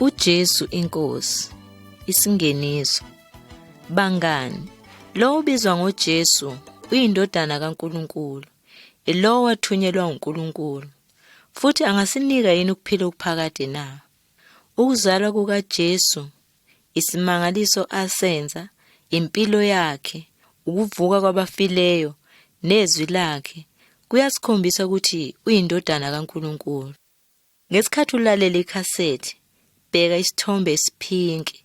uJesu inkosi isingeniso bangani lowo ubizwa ngoJesu uyindodana kaNkuluNkulu ilowo wathunyelwa uNkulunkulu futhi angasinika yini ukuphila okuphakade na ukuzalwa kukaJesu isimangaliso asenza, impilo yakhe, ukuvuka kwabafileyo nezwi lakhe kuyasikhombisa ukuthi uyindodana kaNkulunkulu. Ngesikhathi ulalela ikhasethi, bheka isithombe esiphinki.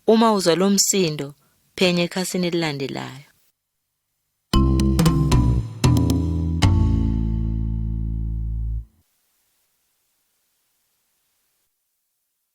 Uma uzwa lo msindo, phenya ekhasini elilandelayo.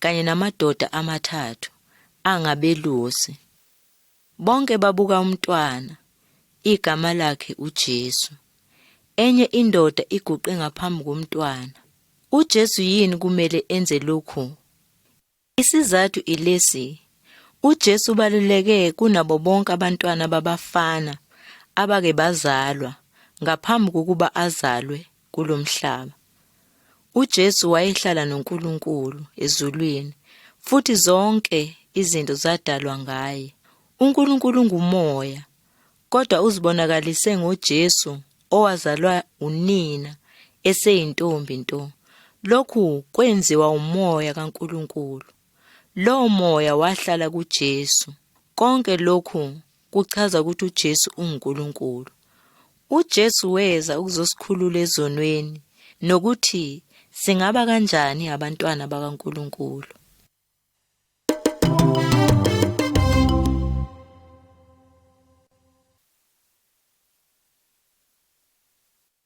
kanye namadoda amathathu angabelusi. Bonke babuka umntwana, igama lakhe uJesu. Enye indoda iguqe ngaphambi komntwana. UJesu yini kumele enze lokhu? Isizathu ilesi. UJesu ubaluleke kunabo bonke abantwana babafana abake bazalwa ngaphambi kokuba azalwe kulo mhlaba. UJesu wayehlala noNkulunkulu ezulwini futhi zonke izinto zadalwa ngaye. UNkulunkulu ngumoya, kodwa uzibonakalise ngoJesu owazalwa unina eseyintombi nto. Lokhu kwenziwa umoya kaNkulunkulu. Lowo moya wahlala kuJesu. Konke lokhu kuchaza ukuthi uJesu unguNkulunkulu. UJesu weza ukuzosikhulula ezonweni nokuthi singaba kanjani abantwana bakaNkulunkulu.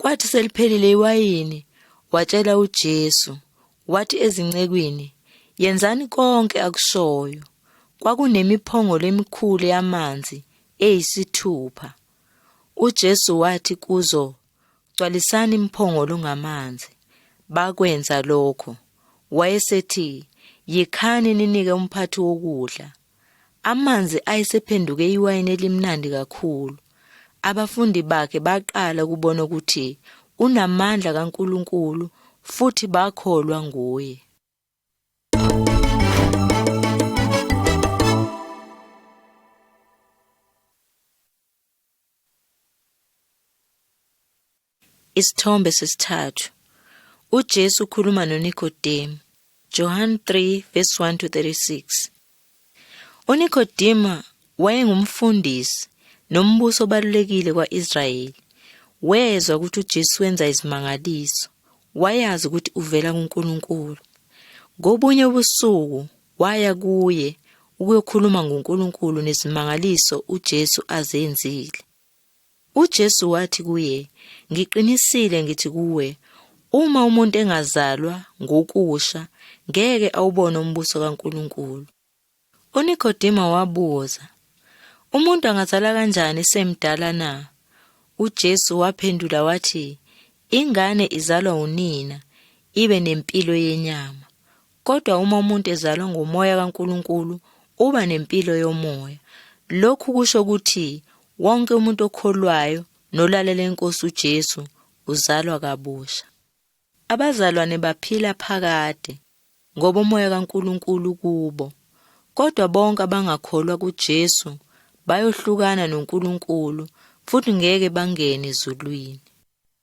Kwathi seliphelile iwayini, watshela uJesu, wathi ezincekwini, Yenzani konke akushoyo. Kwakunemiphongolo emikhulu yamanzi eyisithupha. UJesu wathi kuzo, Gcwalisani imphongolo ngamanzi. Bakwenza lokho. Wayesethi, Yikhani ninike umphathi wokudla. Amanzi ayesephenduke iwayini elimnandi kakhulu. Abafundi bakhe baqala ukubona ukuthi unamandla kaNkulunkulu futhi bakholwa nguye. Isithombe sesithathu. UJesu ukhuluma noNikodemu. Johan 3 verse 1 to 36. UNikodema wayengumfundisi nombuso obalulekile kwa-Israyeli. Wezwa ukuthi uJesu wenza izimangaliso. Wayazi ukuthi uvela kuNkulunkulu. Ngobunye ubusuku waya kuye ukuyokhuluma ngoNkulunkulu nezimangaliso uJesu azenzile. UJesu wathi kuye, Ngiqinisile ngithi kuwe, uma umuntu engazalwa ngokusha, ngeke awubone umbuso kaNkulunkulu. UNikodima wabuza, Umuntu angazala kanjani semdala na? UJesu waphendula wathi, Ingane izalwa unina, ibe nempilo yenyama, Kodwa uma umuntu ezalwa ngomoya kaNkulunkulu, uba nempilo yomoya. Lokhu kusho ukuthi wonke umuntu okholwayo nolalela inkosi uJesu uzalwa kabusha. Abazalwane baphila phakade ngoba umoya kaNkulunkulu kubo. Kodwa bonke abangakholwa kuJesu bayohlukana noNkulunkulu futhi ngeke bangene ezulwini.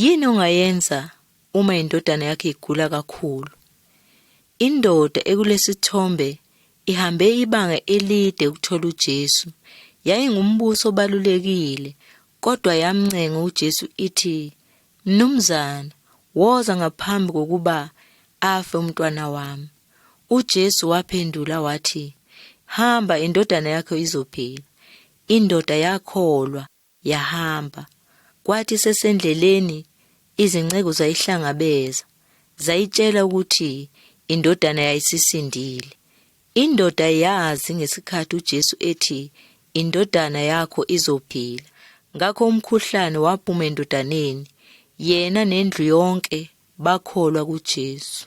Yini ongayenza uma indodana yakho igula kakhulu? Indoda ekulesithombe ihambe ibanga elide ukuthola uJesu. Yayingumbuso obalulekile, kodwa yamncenga uJesu ithi, Mnumzana, woza ngaphambi kokuba afe umntwana wami. UJesu waphendula wathi, Hamba, indodana yakho izophila. Indoda yakholwa. Yahamba. Kwathi sesendleleni izinceku zayihlangabeza, zayitshela ukuthi indodana yayisisindile. Indoda yazi ngesikhathi uJesu ethi indodana yakho izophila. Ngakho umkhuhlane waphuma endodaneni, yena nendlu yonke bakholwa kuJesu.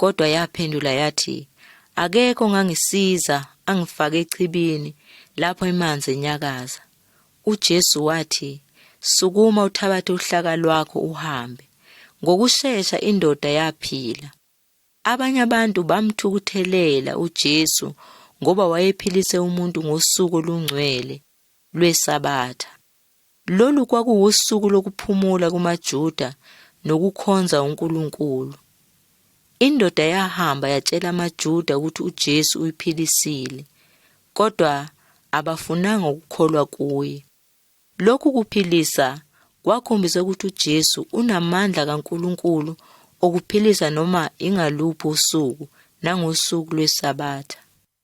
kodwa yaphendula yathi akekho ngangisiza angifake echibini lapho emanzi enyakaza uJesu wathi sukuma uthabathe uhlaka lwakho uhambe ngokushesha indoda yaphila abanye abantu bamthukuthelela uJesu ngoba wayephilise umuntu ngosuku olungcwele lwesabatha Lolu kwakuwusuku lokuphumula kumaJuda nokukhonza uNkulunkulu. Indoda yahamba yatshela amaJuda ukuthi uJesu uyiphilisile, kodwa abafunanga ukukholwa kuye. Lokhu kuphilisa kwakhombisa ukuthi uJesu unamandla kaNkulunkulu okuphilisa noma ingaluphi usuku nangosuku lwesabatha.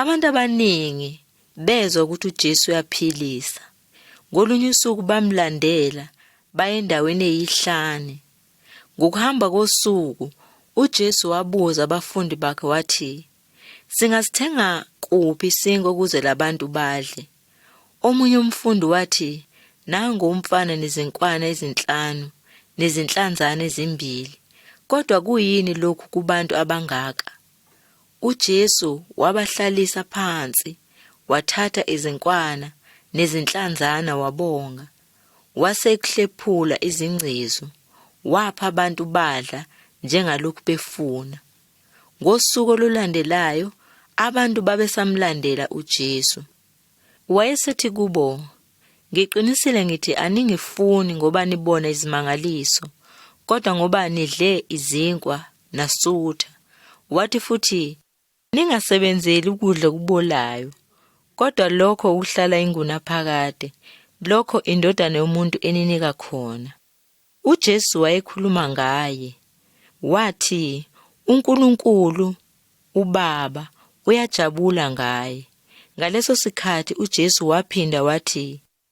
Abantu abaningi bezwa ukuthi uJesu uyaphilisa. Ngolunye usuku bamlandela baye endaweni eyihlane. Ngokuhamba kosuku uJesu wabuza abafundi bakhe wathi, Singasithenga kuphi isinko ukuze labantu badle? Omunye umfundi wathi, Nangu umfana nezinkwana ezinhlanu nezinhlanzana ezimbili. Kodwa kuyini lokhu kubantu abangaka? UJesu wabahlalisa phansi, wathatha izinkwana nezinhlanzana wabonga, wasekuhlephula izingcezu, wapha abantu badla njengalokhu befuna. Ngosuku olulandelayo abantu babesamlandela uJesu. Wayesethi kubo, Ngiqinisile ngithi aningifuni ngoba nibona izimangaliso, kodwa ngoba nidle izinkwa nasutha. Wathi futhi, Ningasebenzeli ukudla okubolayo, kodwa lokho okuhlala ingunaphakade, lokho indodana yomuntu eninika khona. UJesu wayekhuluma ngaye. Wathi, uNkulunkulu, uBaba, uyajabula ngaye. Ngaleso sikhathi uJesu waphinda wathi,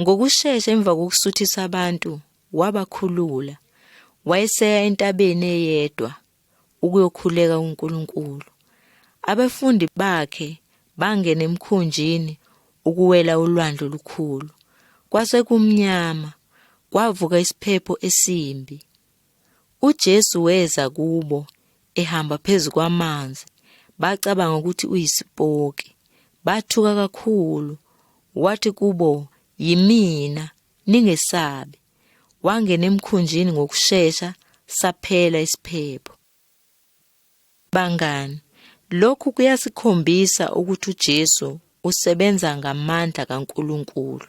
Ngokushesha emva kokusuthisa abantu, wabakhulula. Wayeseya entabeni eyedwa ukuyokhuleka uNkulunkulu. Abafundi bakhe bangena emkhunjini ukuwela ulwandle olukhulu. Kwase kumnyama, kwavuka isiphepho esimbi. UJesu weza kubo ehamba phezu kwamanzi. Bacabanga ukuthi uyisipoki. Bathuka kakhulu. Wathi kubo, "Yimina, ningesabi." Wangena emkhunjini ngokushesha, saphela isiphepho. Bangani, lokhu kuyasikhombisa ukuthi uJesu usebenza ngamandla kaNkulunkulu.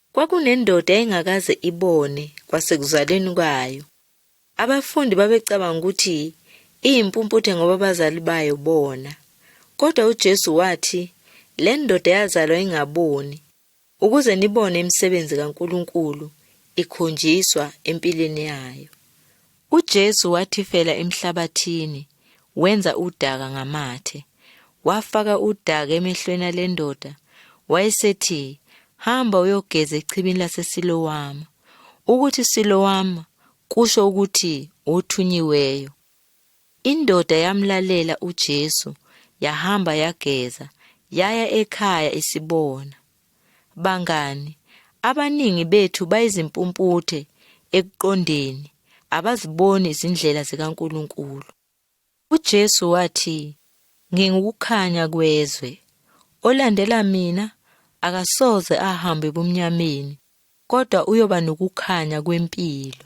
Kwakunendoda engakaze ibone kwasekuzalweni kwayo. Abafundi babecabanga ukuthi iyimpumputhe ngoba abazali bayo bona. Kodwa uJesu wathi, Le ndoda yazalwa ingaboni, ukuze nibone imisebenzi kaNkulunkulu ikhonjiswa empilweni yayo. UJesu wathifela emhlabathini, wenza udaka ngamathe. Wafaka udaka emehlweni ale ndoda, wayesethi, Hamba uyogeza echibini laseSilowama. Ukuthi Silowama kusho ukuthi othunyiweyo. Indoda yamlalela uJesu, yahamba yageza, yaya ekhaya isibona. Bangani, abaningi bethu bayizimpumputhe ekuqondeni, abaziboni izindlela zikaNkulunkulu. UJesu wathi, Ngingukukhanya kwezwe. Olandela mina akasoze ahambe ebumnyameni, kodwa uyoba nokukhanya kwempilo.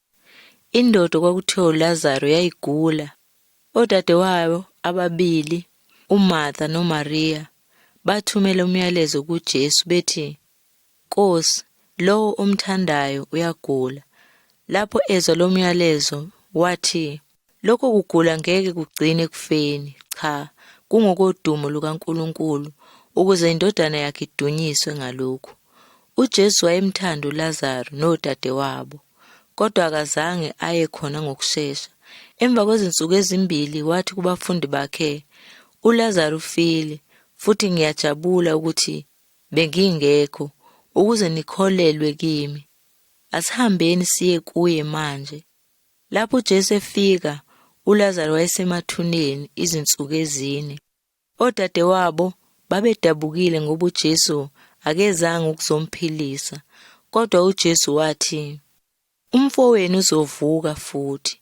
Indoda okwakuthiwa uLazaru yayigula. Odadewayo ababili, uMartha noMaria, bathumela umyalezo kuJesu bethi, Nkosi, lowo omthandayo uyagula. Lapho ezwa lo myalezo, wathi, Lokho kugula ngeke kugcine ekufeni, cha, kungokodumo lukaNkulunkulu, ukuze indodana yakhe idunyiswe ngalokhu. UJesu wayemthanda uLazaru nodadewabo, kodwa akazange aye khona ngokushesha. Emva kwezinsuku ezimbili wathi kubafundi bakhe, uLazaru ufile, futhi ngiyajabula ukuthi bengingekho ukuze nikholelwe kimi. Asihambeni siye kuye manje. Lapho uJesu efika, uLazaro wayesemathuneni izinsuku ezine. Odadewabo babedabukile ngoba uJesu akezanga ukuzomphilisa, kodwa uJesu wathi, Umfowenu uzovuka futhi.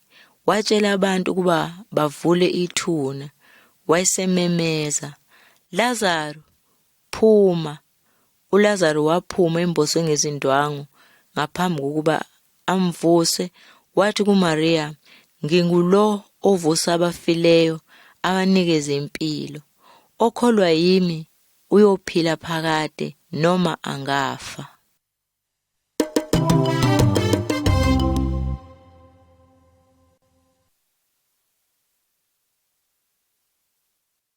Watshela abantu ukuba bavule ithuna. Wayesememeza, Lazaro, Phuma! ULazaru waphuma emboswe ngezindwangu ngaphambi kokuba amvuse, wathi kuMariya, Ngingulo ovusa abafileyo, abanikeze impilo. Okholwa yimi uyophila phakade noma angafa.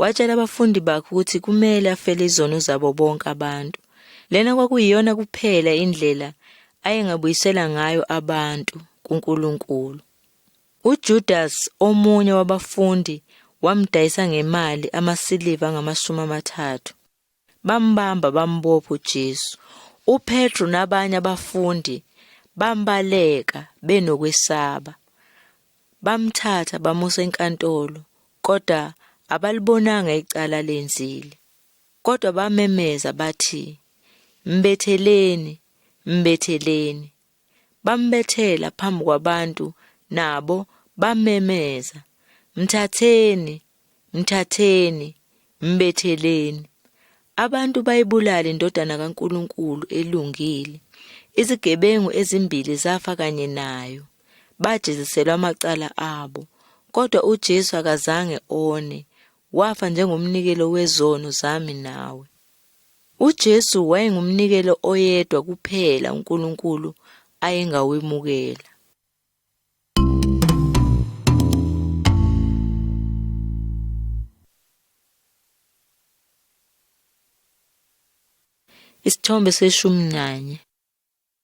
Watshela abafundi bakhe ukuthi kumele afele izono zabo bonke abantu. Lena kwakuyiyona kuphela indlela ayengabuyisela ngayo abantu kuNkulunkulu. UJudas omunye wabafundi wamdayisa ngemali amasiliva angamashumi amathathu. Bambamba bambopha uJesu. UPetru nabanye abafundi bambaleka benokwesaba. Bamthatha bamusa enkantolo kodwa abalibonanga icala lenzile. Kodwa bamemeza bathi, Mbetheleni, mbetheleni. bambethela phambi kwabantu nabo bamemeza, Mthatheni, mthatheni, mbetheleni. Abantu bayibulala indodana kaNkulunkulu elungile. Izigebengu ezimbili zafa kanye nayo. Bajeziselwa amacala abo. Kodwa uJesu akazange one. Wafa njengomnikelo wezono zami nawe. UJesu wayengumnikelo oyedwa kuphela uNkulunkulu ayengawemukela. Isithombe seshumi nanye.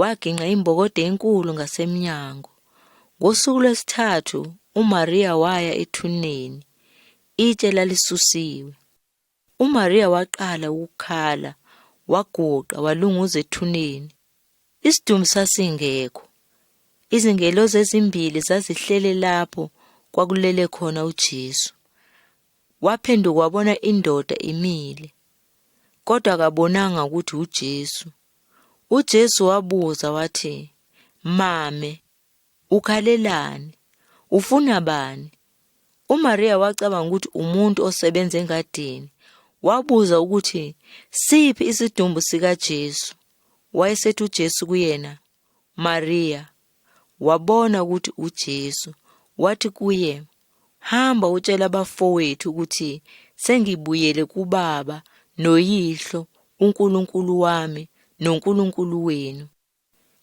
Wagingqa imbokodo enkulu ngasemnyango. Ngosuku lwesithathu uMaria waya ethuneni. Itshe lalisusiwe. UMaria waqala ukukhala, waguqa walunguza ethuneni. Isidumbu sasingekho. Izingelosi ezimbili zazihlele lapho kwakulele khona uJesu. Waphenduka wabona indoda imile, kodwa akabonanga ukuthi uJesu. UJesu wabuza wathi, Mame, ukhalelani? Ufuna bani? UMariya wacabanga ukuthi umuntu osebenza engadini. Wabuza ukuthi siphi isidumbu sikaJesu. Wayesethi uJesu kuyena, Mariya. wabona ukuthi uJesu, wathi kuye, Hamba utshela abafowethu ukuthi sengibuyele kubaba noyihlo uNkulunkulu wami noNkulunkulu wenu.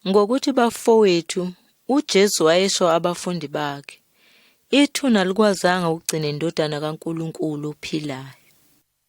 Ngokuthi bafowethu, uJesu wayesho abafundi bakhe, ithuna likwazanga ukugcina indodana kaNkulunkulu ophilayo.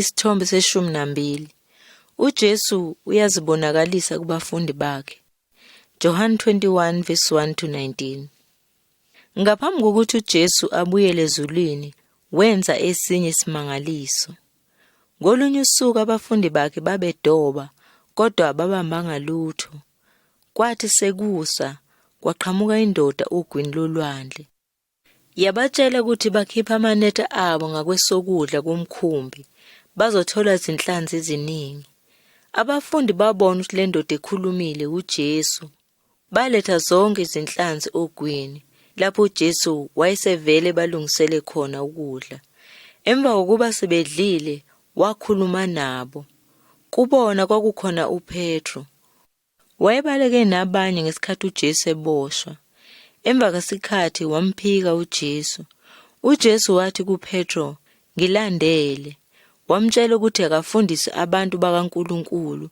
Isithombe seshumi nambili. UJesu uyazibonakalisa kubafundi bakhe. John 21 verse 1 to 19. Ngaphambi kokuthi uJesu abuyele ezulwini, wenza esinye isimangaliso. Ngolunye usuku abafundi bakhe babedoba kodwa babambanga lutho. Kwathi sekusa kwaqhamuka indoda ogwini lolwandle. Yabatshela ukuthi bakhiphe amanetha abo ngakwesokudla kumkhumbi, bazothola izinhlanzi eziningi. Abafundi babona ukuthi le ndoda ekhulumile uJesu. Baletha zonke izinhlanzi ogwini, lapho uJesu wayesevele balungisele khona ukudla. Emva kokuba sebedlile, wakhuluma nabo. Kubona kwakukhona uPetru. Wayebaleke nabanye ngesikhathi uJesu eboshwa. Emva kwesikhathi wamphika uJesu. UJesu wathi kuPetro, "Ngilandele." Wamtshela ukuthi akafundise abantu bakaNkulunkulu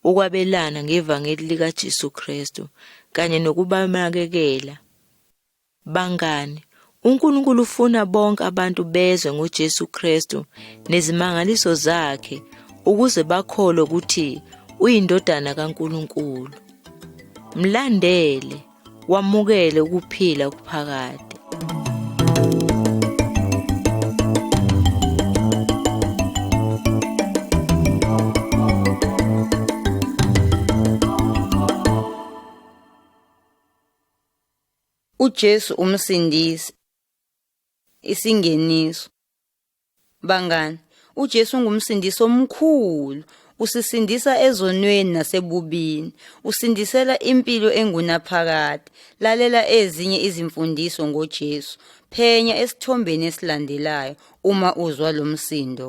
ukwabelana ngevangeli likaJesu Kristu kanye nokubanakekela. Bangani, uNkulunkulu ufuna bonke abantu bezwe ngoJesu Kristu nezimangaliso zakhe ukuze bakholwe ukuthi uyindodana kaNkulunkulu. Mlandele, wamukele ukuphila okuphakade. UJesu umsindisi. Isingeniso. Bangani, uJesu ungumsindisi omkhulu. Usisindisa ezonweni nasebubini. Usindisela impilo engunaphakade. Lalela ezinye izimfundiso ngoJesu. Phenya esithombeni esilandelayo uma uzwa lo msindo.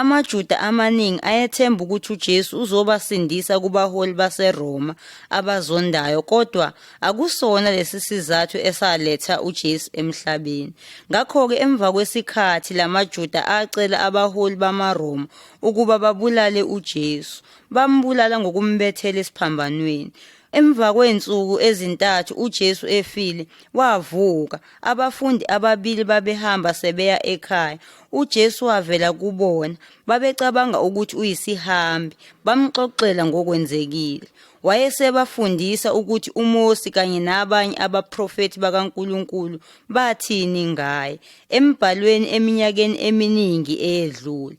AmaJuda amaningi ayethemba ukuthi uJesu uzobasindisa kubaholi baseRoma abazondayo kodwa akusona lesi sizathu esaletha uJesu emhlabeni. Ngakho-ke emva kwesikhathi lamaJuda acela abaholi bamaRoma ukuba babulale uJesu. Bambulala ngokumbethela esiphambanweni. Emva kwey'nsuku ezintathu uJesu efile, wavuka. Abafundi ababili babehamba sebeya ekhaya. UJesu wavela kubona. Babecabanga ukuthi uyisihambi. Bamxoxela ngokwenzekile. Wayesebafundisa ukuthi uMosi kanye nabanye abaprofethi bakaNkulunkulu bathini ngaye embhalweni eminyakeni eminingi eyedlule.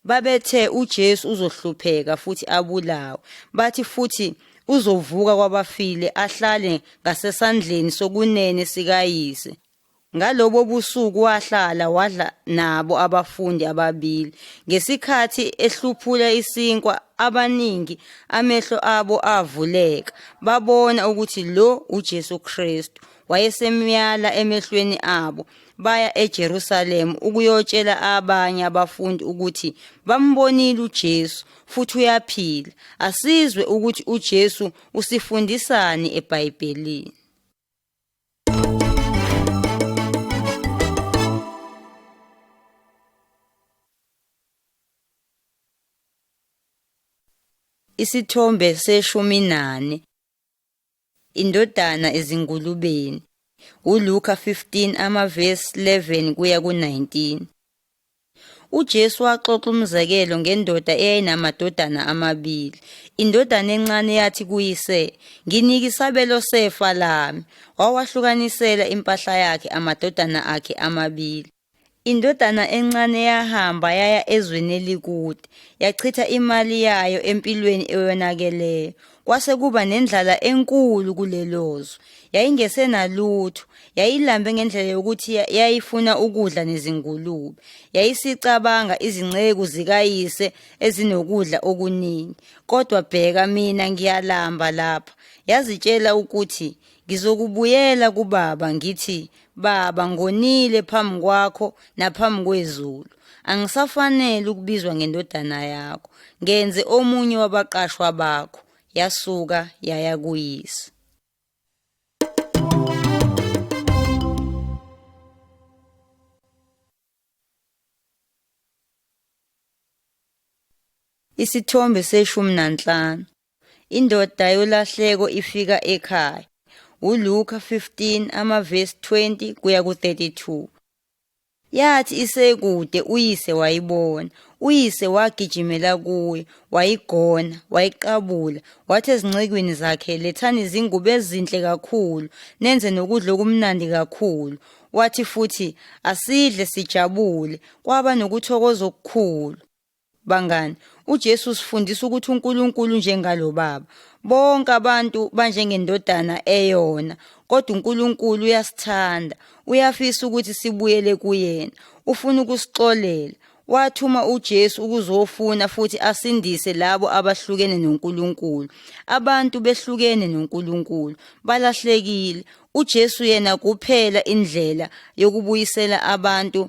Babethe uJesu uzohlupheka futhi abulawe. Bathi futhi uzovuka kwabafile ahlale ngasesandleni sokunene sikayise. Ngalobo busuku wahlala wadla nabo abafundi ababili. Ngesikhathi ehluphula isinkwa abaningi amehlo abo avuleka babona ukuthi lo uJesu Kristu wayesemyala emehlweni abo. baya eJerusalema ukuyotshela abanye abafundi ukuthi bambonile uJesu futhi uyaphila. Asizwe ukuthi uJesu usifundisani eBhayibhelini. Isithombe seshumi nane Indodana ezingulubeni. ULuka 15 amavesi 11 kuya ku-19. UJesu waxoxa umzekelo ngendoda eyayinamadodana amabili. Indodana encane yathi kuyise, "Nginike isabelo sefa lami." Wawahlukanisela impahla yakhe amadodana akhe amabili. Indodana encane yahamba yaya ezweni elikude, yachitha imali yayo empilweni eyonakeleyo. Kwase kuba nendlala enkulu kulelo zwe. Yayingesenalutho, yayilambe ngendlela yokuthi ya- yayifuna ukudla nezingulube. Yayisicabanga izinceku zikayise ezinokudla okuningi. Kodwa bheka mina ngiyalamba lapha. Yazitshela ukuthi ngizokubuyela kubaba ngithi Baba, ngonile phambi kwakho naphambi kwezulu. Angisafanele ukubizwa ngendodana yakho. Ngenze omunye wabaqashwa bakho. Yasuka yaya kuyise. Isithombe seshumi nanhlanu. Indoda yolahleko ifika ekhaya. ULuka 15 amavesi 20 kuya ku-32. Yathi isekude uyise wayibona. Uyise wagijimela kuye, wayigona, wayiqabula, wathi ezincekwini zakhe, lethani izingubo ezinhle kakhulu, nenze nokudla okumnandi kakhulu. Wathi futhi, asidle sijabule. Kwaba nokuthokoza okukhulu. Bangani, uJesu usifundisa ukuthi uNkulunkulu njengalo Baba. Bonke abantu banjengendodana eyona, kodwa uNkulunkulu uyasithanda. Uyafisa ukuthi sibuyele kuyena. Ufuna ukusixolela. Wathuma uJesu ukuzofuna futhi asindise labo abahlukene noNkulunkulu. Abantu behlukene noNkulunkulu, balahlekile. UJesu yena kuphela indlela yokubuyisela abantu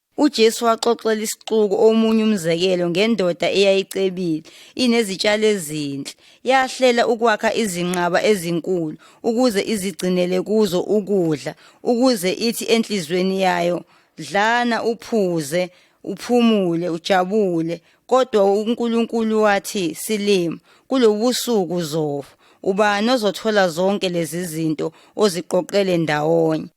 UJesu waxoxela isixuku omunye umzekelo ngendoda eyayicebile, inezitshalo ezinhle. Yahlela ukwakha izinqaba ezinkulu ukuze izigcinele kuzo ukudla, ukuze ithi enhlizweni yayo, dlana uphuze, uphumule, ujabule. Kodwa uNkulunkulu wathi, silima, kulobusuku uzofa. Ubani ozothola zonke lezi zinto oziqoqele ndawonye?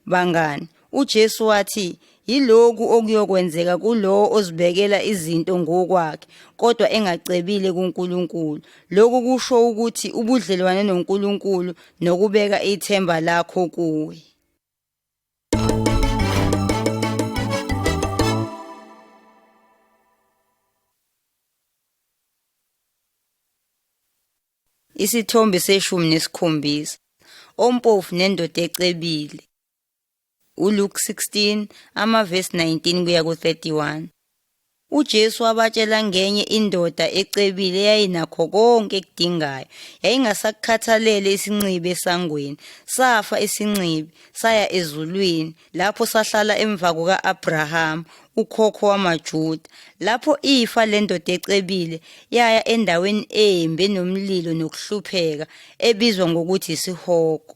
Bangani, uJesu wathi, Yiloku okuyokwenzeka kulowo ozibekela izinto ngokwakhe, kodwa engacebile kuNkulunkulu. Lokhu kusho ukuthi ubudlelwane noNkulunkulu nokubeka ithemba lakho kuye. Isithombe seshumi nesikhombisa. Ompofu nendoda ecebile. ULuke 16 amavesi 19 kuya ku-31. UJesu wabatshela ngenye indoda ecebile eyayinakho konke ekudingayo. Yayingasakukhathalele isinxibi esangweni. Safa isinxibi, saya ezulwini, lapho sahlala emva kuka-Abrahama ukhokho wamaJuda lapho ifa lendoda ecebile yaya endaweni embi enomlilo nokuhlupheka ebizwa ngokuthi isihogo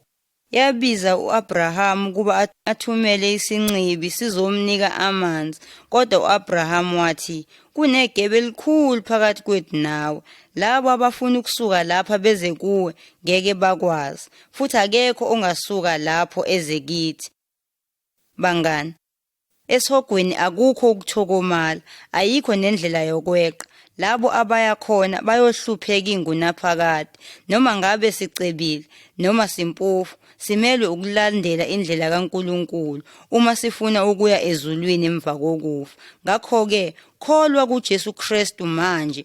yabiza u-Abrahama ukuba athumele isinxibi sizomnika amanzi kodwa u-Abrahama wathi kunegebe elikhulu phakathi kwethu nawe labo abafuna ukusuka lapha beze kuwe ngeke bakwazi futhi akekho ongasuka lapho eze kithi. Bangani, esihogweni akukho ukuthokomala, ayikho nendlela yokweqa. Labo abaya khona bayohlupheka ingunaphakade, noma ngabe sicebile noma simpofu, simelwe ukulandela indlela kaNkulunkulu uma sifuna ukuya ezulwini emva kokufa. Ngakho-ke, kholwa kuJesu Kristu manje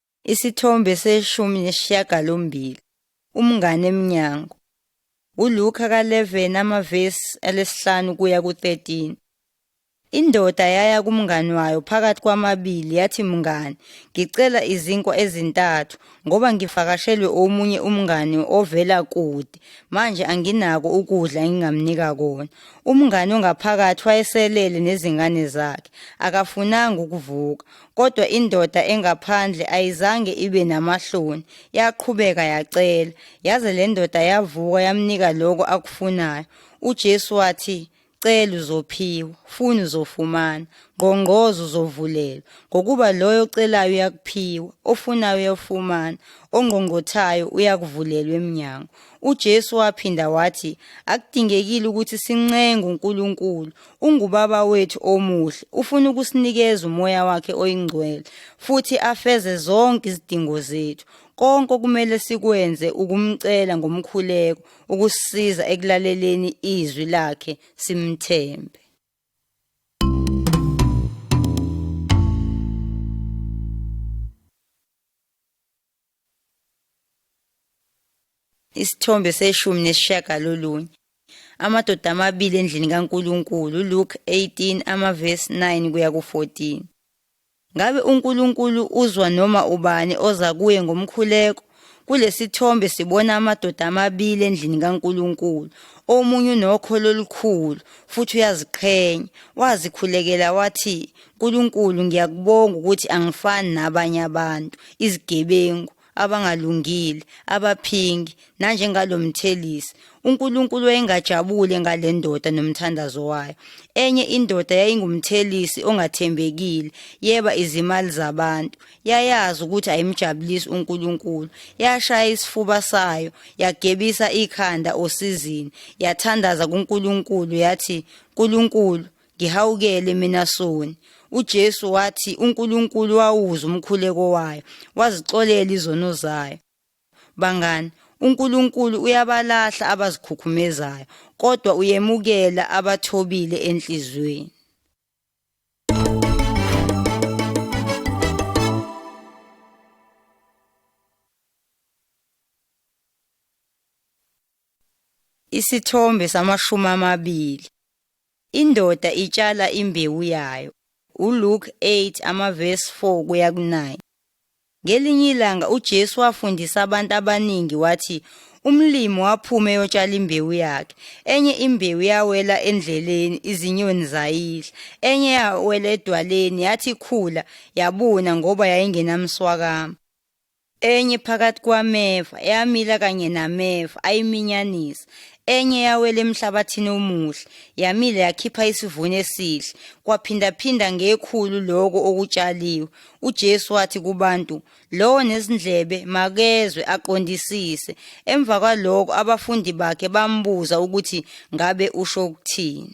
Isithombe seshumi nesishiyagalombili umngane emnyango. ULuka ka-11 amavesi alesihlanu kuya ku-13. Indoda yaya kumngani wayo phakathi kwamabili yathi mngani ngicela izinkwa ezintathu ngoba ngivakashelwe omunye umngani ovela kude manje anginako ukudla engingamnika kona. Umngani ongaphakathi wayeselele nezingane zakhe akafunanga ukuvuka Kodwa indoda engaphandle ayizange ibe namahloni, yaqhubeka yacela, yaze le ndoda yavuka yamnika lokho akufunayo. UJesu wathi, Cela uzophiwa, funa uzofumana, ngqongqoza uzovulelwa. Ngokuba loyo ocelayo uyakuphiwa, ofunayo uyafumana, ongqongqothayo uyakuvulelwa emnyango. UJesu waphinda wathi, Akudingekile ukuthi sincenge uNkulunkulu Ungubaba wethu omuhle, ufuna ukusinikeza umoya wakhe oyingcwele futhi afeze zonke izidingo zethu. Konke okumele sikwenze ukumcela ngomkhuleko ukusisiza ekulaleleni izwi lakhe simthembe. Isithombe seshumi nesishiyagalolunye. Amadoda amabili endlini kaNkulunkulu, Luke 18 amavesi 9 kuya ku-14. Ngabe uNkulunkulu uzwa noma ubani oza kuye ngomkhuleko? Kulesithombe sibona amadoda amabili endlini kaNkulunkulu. Omunye unokholo olukhulu futhi uyaziqhenya. Wazikhulekela wathi, Nkulunkulu ngiyakubonga ukuthi angifani nabanye abantu izigebengu abangalungile abaphingi nanjengalo mthelisi uNkulunkulu wayengajabule ngale ndoda nomthandazo wayo enye indoda yayingumthelisi ongathembekile yeba izimali zabantu yayazi ukuthi ayimjabulisi uNkulunkulu yashaya isifuba sayo yagebisa ikhanda osizini yathandaza kuNkulunkulu yathi uNkulunkulu ngihawukele mina soni uJesu wathi uNkulunkulu wawuza umkhuleko wayo wazixolela izono zayo bangani uNkulunkulu uyabalahla abazikhukhumezayo kodwa uyemukela abathobile enhlizweni Isithombe samashumi amabili. Indoda itshala imbewu yayo. ULuke 8 amavesi 4 kuya ku-9. Ngelinye ilanga uJesu wafundisa abantu abaningi wathi umlimi waphuma eyotshala imbewu yakhe. Enye imbewu yawela endleleni izinyoni zayidla. Enye yawela edwaleni yathi ikhula yabuna ngoba yayingenamswakama. Enye phakathi kwameva, eyamila kanye nameva, ayiminyanisa. Enye yawela emhlabathini omuhle, yamila yakhipha isivuno esihle, kwaphindaphinda ngekhulu lokho okutshaliwe. UJesu wathi kubantu, lowo nezindlebe makezwe aqondisise. Emva kwalokho abafundi bakhe bambuza ukuthi ngabe usho ukuthini.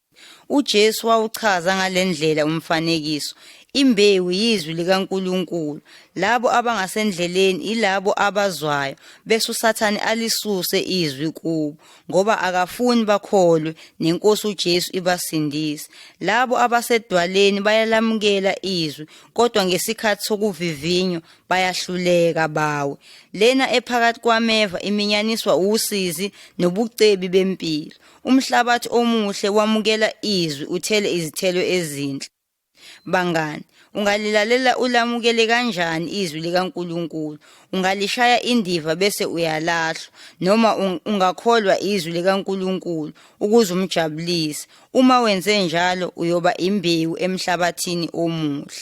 UJesu wawuchaza ngale ndlela umfanekiso. Imbewu yizwi likaNkulunkulu. Labo abangasendleleni ilabo abazwayo, bese uSathane alisuse izwi kubo, ngoba akafuni bakholwe neNkosi uJesu ibasindise. Labo abasedwaleni bayalamukela izwi, kodwa ngesikhathi sokuvivinywa bayahluleka bawe. Lena ephakathi kwameva iminyaniswa usizi nobucebi bempilo. Umhlabathi omuhle wamukela izwi uthele izithelo ezinhle. Bangani, ungalilalela ulamukele kanjani izwi likaNkulunkulu? Ungalishaya indiva bese uyalahlwa noma ungakholwa izwi likaNkulunkulu ukuze umjabulise. Uma wenze njalo uyoba imbewu emhlabathini omuhle.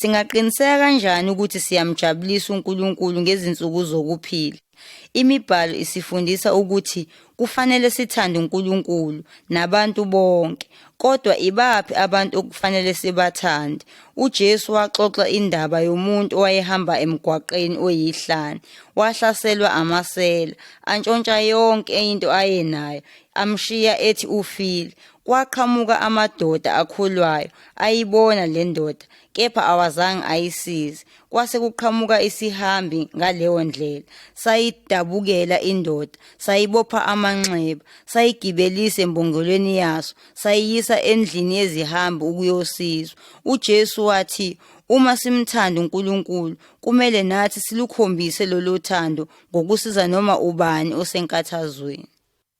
Singaqiniseka kanjani ukuthi siyamjabulisa uNkulunkulu ngezinsuku zokuphila? ImiBhalo isifundisa ukuthi kufanele sithande uNkulunkulu nabantu bonke. Kodwa ibaphi abantu okufanele sibathande? UJesu waxoxa indaba yomuntu owayehamba emgwaqeni oyihlane. Wahlaselwa amasela, antshontsha yonke into ayenayo, amshiya ethi ufile. Kwaqhamuka amadoda akholwayo, ayibona le ndoda kepha awazange ayisize kwase kuqhamuka isihambi ngaleyo ndlela sayidabukela indoda sayibopha amanxeba sayigibelisa embongolweni yaso sayiyisa endlini yezihambi ukuyosizwa uJesu wathi Uma simthanda uNkulunkulu, kumele nathi silukhombise lolu thando ngokusiza noma ubani osenkathazweni.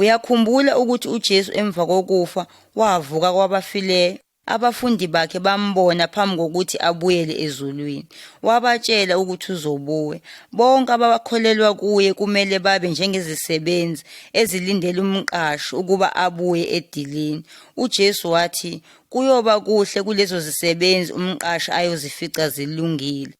Uyakhumbula ukuthi uJesu emva kokufa wavuka kwabafileyo. Abafundi bakhe bambona phambi kokuthi abuyele ezulwini. Wabatshela ukuthi uzobuya. Bonke abakholelwa kuye kumele babe njengezisebenzi ezilindele umqashi ukuba abuye edilini. UJesu wathi kuyoba kuhle kulezo zisebenzi umqashi ayozifica zilungile.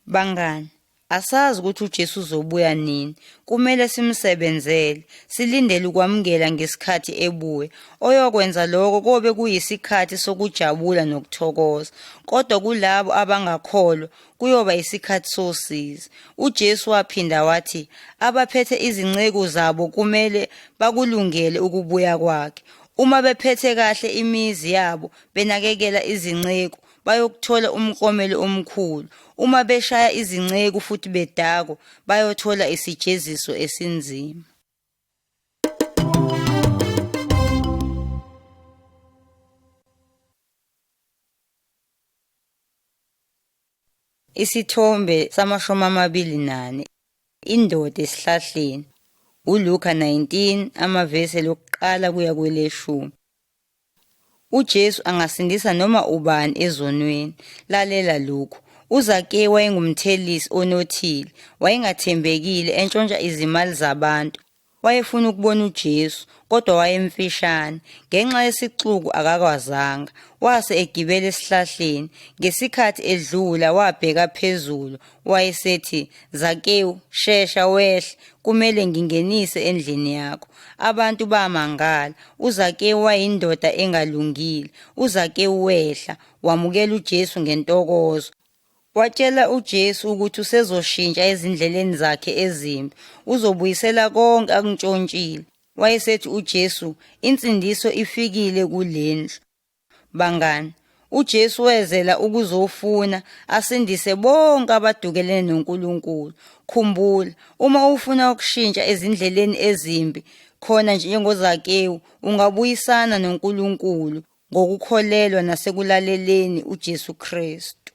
Bangani, asazi ukuthi uJesu uzobuya nini. Kumele simsebenzele, silindele ukwamukela ngesikhathi ebuya. Oyokwenza lokho kobe kuyisikhathi sokujabula nokuthokoza. Kodwa kulabo abangakholwa kuyoba isikhathi sosizi. UJesu waphinda wathi abaphethe izinceku zabo kumele bakulungele ukubuya kwakhe. Uma bephethe kahle imizi yabo, benakekela izinceku, bayokuthola umklomelo omkhulu. Uma beshaya izinceku futhi bedakwa, bayothola isijeziso esinzima. Isithombe samashumi amabili nane. Indoda esihlahleni. ULuka 19 amavesi lokuqala kuya kweleshumi. UJesu angasindisa noma ubani ezonweni. Lalela lokhu. UZake wayengumthelisi onothile, wayengathembekile, entshontsha izimali zabantu. Wayefuna ukubona uJesu, kodwa wayemfishane. Ngenxa yesixuku akakwazanga. Wase egibela esihlahleni. Ngesikhathi edlula wabheka phezulu, Wayesethi, Zakewu, shesha wehle, kumele ngingenise endlini yakho. Abantu bamangala. UZakewu wayindoda engalungile. UZakewu wehla, wamukela uJesu ngentokozo. Watshela uJesu ukuthi usezoshintsha ezindleleni zakhe ezimbi, uzobuyisela konke akuntshontshile. Wayesethi uJesu, insindiso ifikile kulendlu. Bangani, uJesu wezela ukuzofuna asindise bonke abadukelene noNkulunkulu. Khumbula, uma ufuna ukushintsha ezindleleni ezimbi, khona nje njengoZakewu, ungabuyisana noNkulunkulu ngokukholelwa nasekulaleleni uJesu Kristu.